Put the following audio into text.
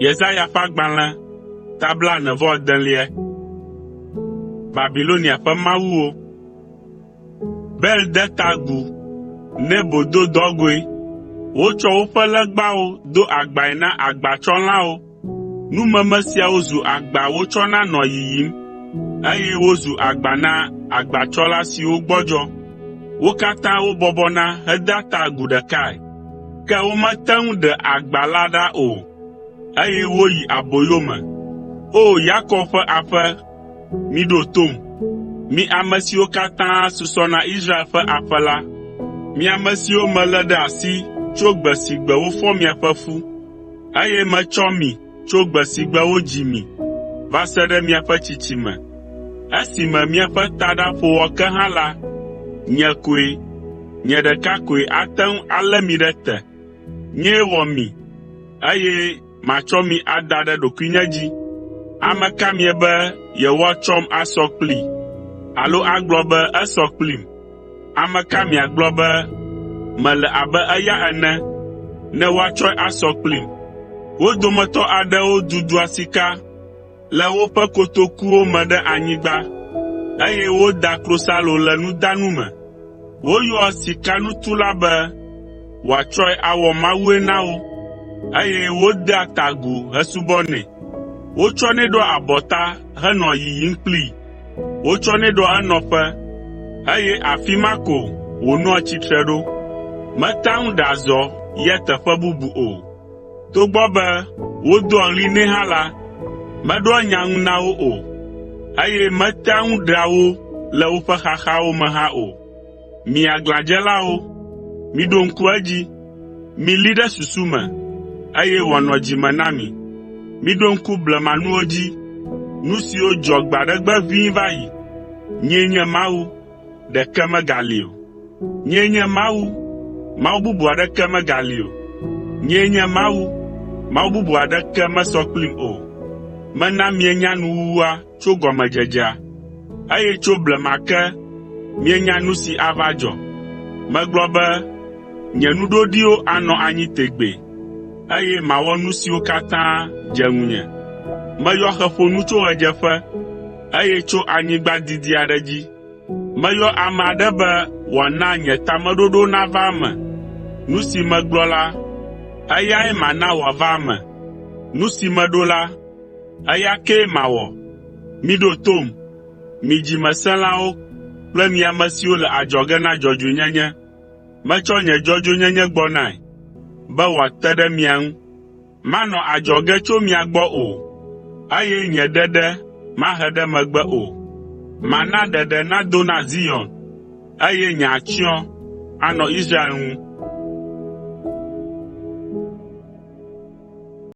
Yesaya ƒe agbalẽ ta blaene-vɔ-adelia. Babilonia ƒe mawuwo. Bel de ta agu, Nebo do dɔgɔ̃e. Wotsɔ woƒe legbawo do agbae na agbatsɔlãwo Numeme siawo zu agba wotsɔna nɔa yiyim, eye wozu agba na agbatsɔla siwo gbɔdzɔ. Wo katã wobɔbɔna hedea ta agu ɖekae, ke womete ŋu ɖe agba la ɖa o, eye woyi aboyo me. O! Yakob ƒe aƒe, miɖo tom, mi ame siwo katã susɔ na Israel ƒe aƒe la, mi ame siwo melé ɖe asi tso gbe si gbe wofɔ miaƒe ƒu. Eye metsɔ mi tso gbe si gbe wodzi mi va se ɖe miaƒe tsitsime, esime miaƒe taɖa ƒo wɔ ke hã la, nye koe, nye ɖeka koe ate ŋu alé mi ɖe te. Nyee wɔ mi, eye matsɔ mi ada ɖe ɖokuinye dzi. Ame ka miebe yewoatsɔm asɔ kplii, alo agblɔ be esɔ kplim?” Ame ka miagblɔ be mele abe eya ene ne woatsɔe asɔ kplim? Wo dometɔ aɖewo dudua sika le woƒe kotokuwo me ɖe anyigba, eye woda klosalo le nudanu me. Woyɔa sikanutula be wòatsɔe awɔ mawue na wo, eye wodea ta agu hesubɔnɛ. Wotsɔnɛ ɖoa abɔta henɔa yiyim kplii. Wotsɔnɛ ɖoa enɔƒe, eye afi ma ko wònɔa tsitre ɖo. Metea ŋu ɖea zɔ yia teƒe bubu o. Togbɔ be wodoa ɣli nɛ hã la, meɖoa nya ŋu na wo o, eye metea ŋu ɖea wo le woƒe xaxawo me hã o. Mi aglãdzelawo, miɖo ŋku edzi, milí ɖe susu me, eye wòanɔ dzi me na mi. Miɖo ŋku blemanuwo dzi, nu siwo dzɔ gbe aɖe gbe ʋĩ va yi. Nyee nye Mawu, ɖeke megali o. Nyee nye Mawu, Mawu bubu aɖeke megali o. Nyee nye Mawu, Mawu bubu aɖeke mesɔ kplim o. Mena mienya nuwuwua, tso gɔmedzedzea, eye tso blema ke mienya nu si ava dzɔ. Megblɔ be, “Nye nu ɖoɖiwo anɔ anyi tegbee, eye mawɔ nu siwo katã dze ŋunye.” Meyɔ xe ƒo nu tso ɣedzeƒe, eye tso anyigba didi aɖe dzi. Meyɔ ame aɖe be wòana nye tameɖoɖo nava eme. Nu si megblɔ la, eyae mana wòava eme, nu si meɖo la, Eya kee mawɔ. Miɖo tom, mi dzimesẽlawo kple mi ame siwo le adzɔge na dzɔdzɔenyenye. Metsɔ nye dzɔdzɔenyenye gbɔ nae, be wòate ɖe mia ŋu. Manɔ adzɔge tso mia gbɔ o, eye nye ɖeɖe mahe ɖe megbe o. Mana ɖeɖe nado na Zion, eye nye atsyɔ̃ anɔ Israel ŋu.”